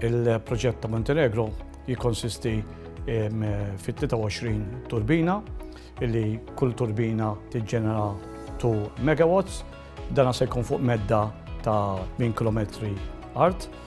Il-proġett ta' Montenegro jikonsisti fit-23 turbina, illi kull turbina tiġġenera 2 megawatts, dana se jkun fuq medda ta' 8 km art.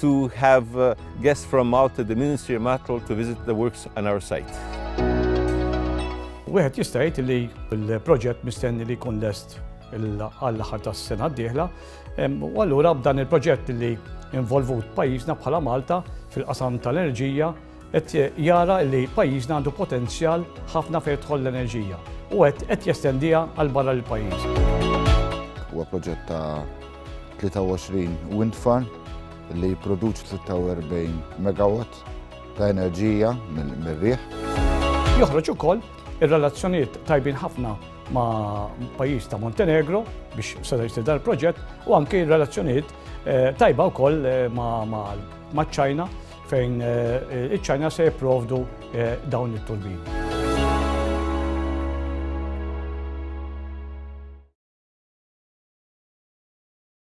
to have uh, guests from Malta, the Ministry of Matrol, to visit the works on our site. Wieħed jista' jgħid li l-proġett mistenni li jkun lest għall-aħħar tas-sena d-dieħla. U allura b'dan il-proġett li involvut pajjiżna bħala Malta fil-qasam tal-enerġija Qed jara li pajjiżna għandu potenzjal ħafna fejn tidħol l-enerġija u qed qed jestendiha għal barra l-pajjiż. Huwa proġett ta' 23 wind farm li jipproduċi 46 megawatt ta' enerġija mir-riħ. Joħroġ ukoll ir-relazzjonijiet tajbin ħafna ma' pajjiż ta' Montenegro biex seta' jsir dan il-proġett u anke r-relazzjonijiet eh, tajba wkoll eh, ma' ċ-Ċina fejn eh, iċ-Ċina se jipprovdu eh, dawn it-turbini.